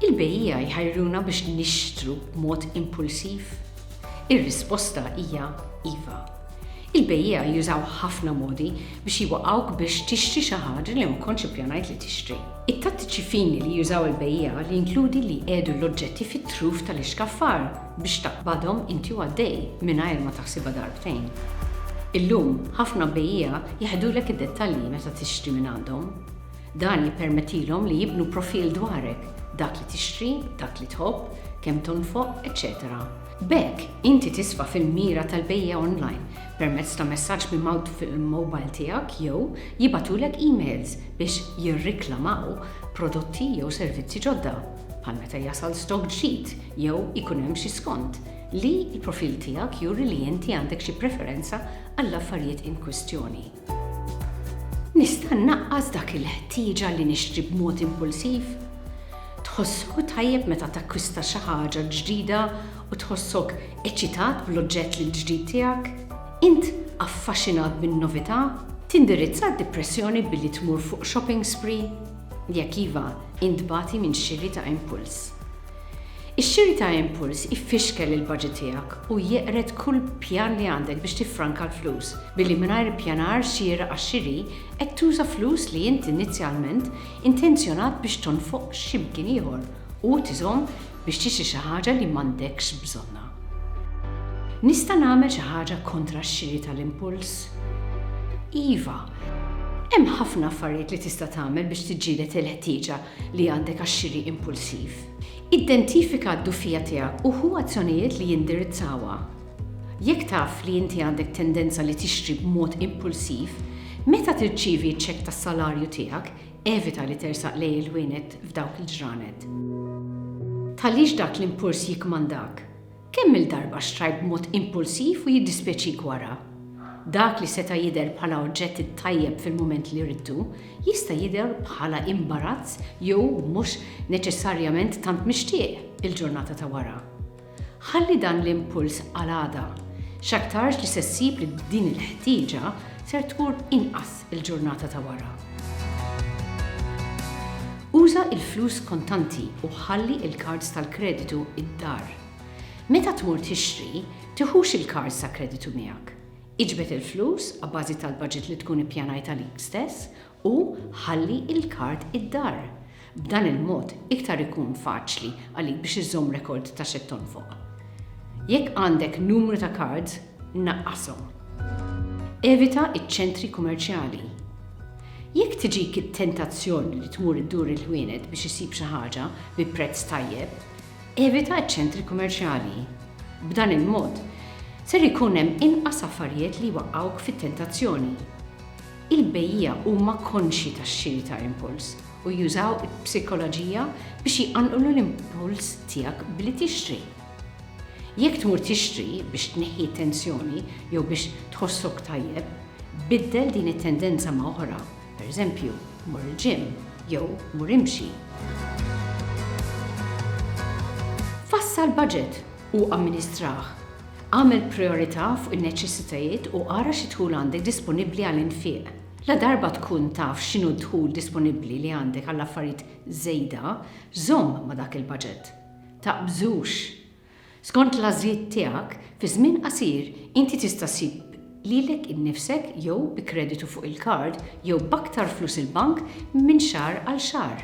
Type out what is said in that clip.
Il-bejjiegħa jħajruna biex nixtru b'mod impulsiv? Ir-risposta hija iva. Il-bejjiegħa jużaw ħafna modi biex jwaqqgħuk biex tixtri xi ħaġa li ma kontx ippjanajt li tixtri. It-tattiċi fini li jużaw il-bejjiegħa jinkludi li jqiegħdu l-oġġetti fit-truf tal-ixkaffar biex taqbadhom inti u għaddej mingħajr ma taħsibha darbtejn. Illum, ħafna bejjiegħa jeħdulek id-dettalji meta tixtri minn għandhom. Dan jippermettilhom li jibnu profil dwarek, dak li tixtri, dak li tħobb, kemm tonfoq, eċċetera. B'hekk, inti tisfa' fil-mira tal-bejja online permezz ta' messaġġ mimgħut fil-mowbajl tiegħek jew jibgħatulek emails biex jirriklamaw prodotti jew servizzi ġodda, bħal meta jasal stokk ġdid jew ikun hemm xi skont, li l-profil tiegħek juri li inti għandek xi preferenza għall-affarijiet inkwistjoni. Nista' nnaqqas dak il-ħtieġa li nixtri b'mod impulsiv? Tħossok tajjeb meta takkwista xi ħaġa ġdida u tħossok eċitat bl-oġġett l-ġdid tiegħek? Int affaxxinat bin-novità? Tindirizza d-dipressjoni billi tmur fuq shopping spree? Jekk iva, int tbati minn xiri ta' impuls. Ix-xiri ta' impuls ifixkel il-baġit tiegħek u jeqred kull pjan li għandek biex tiffranka l-flus, billi mingħajr ippjanar xieraq għax-xiri qed tuża flus li int inizjalment intenzjonat biex tonfoq xi mkien ieħor u tiżomm biex tixtri xi ħaġa li m'għandekx bżonnha. Nista' nagħmel xi ħaġa kontra x-xiri tal-impuls? Iva! Hemm ħafna affarijiet li tista' tagħmel biex tiġġieled il-ħtieġa li għandek għax-xiri impulsiv. Identifika d-dufija tiegħek u ħu azzjonijiet li jindirizzawha. Jekk taf li inti għandek tendenza li tixtri b'mod impulsiv, meta tirċievi ċ-ċekk tas-salarju tiegħek, evita li tersaq lejn il-ħwienet f'dawk il-ġranet. Tħallix dak l-impuls jikkmandak. Kemm-il darba xtrajt b'mod impulsiv u jiddispjaċik wara? Dak li seta' jidher bħala oġġett it-tajjeb fil-mument li ridtu, jista' jidher bħala imbarazz jew mhux neċessarjament tant mixtieq il-ġurnata ta' wara. Ħalli dan l-impuls għal għada, x'aktarx li se ssib li b'din il-ħtieġa ser tmur inqas. il-ġurnata ta' wara. Uża l-flus kontanti u ħalli l-kards tal-kreditu d-dar. Meta tmur tixtri, tiħux il-kards ta' kreditu miegħek. Iġbed il-flus abbażi tal-baġit li tkun ippjanajt għalik stess u ħalli l-kard id-dar. B'dan il-mod iktar ikun faċli għalik biex iżżomm rekord ta' x'qed tonfoq. Jekk għandek numru ta' kards, naqqashom. Evita ċ-ċentri kumerċjali. Jekk tiġik it-tentazzjoni li tmur iddur il-ħwienet biex issib xi ħaġa bi prezz tajjeb, evita ċ-ċentri kumerċjali. B'dan il-mod, ser ikun hemm inqas affarijiet li jwaqqgħuk fit-tentazzjoni. Il-bejjiegħa huma konxji tax-xiri ta' impuls u jużaw il-psikoloġija biex jqanqlu l-impuls tiegħek billi tixtri. Jekk tmur tixtri biex tneħħi t-tensjoni jew biex tħossok tajjeb, biddel din it-tendenza ma' oħra, pereżempju, mur il-ġim jew mur imxi. Fassal baġit u amministrah. Agħmel prijorità fuq in-neċessitajiet u ara xi dħul għandek disponibbli għal infiq. Ladarba tkun taf x'inhu d-dħul disponibbli li għandek għall-affarijiet żejda, żomm ma' dak il-baġit. Taqbżux! Skont l-għażliet tiegħek, fi żmien qasir inti tista' ssib lilek innifsek jew bi kreditu fuq il-kard jew b'aktar flus il-bank minn xahar għal xahar.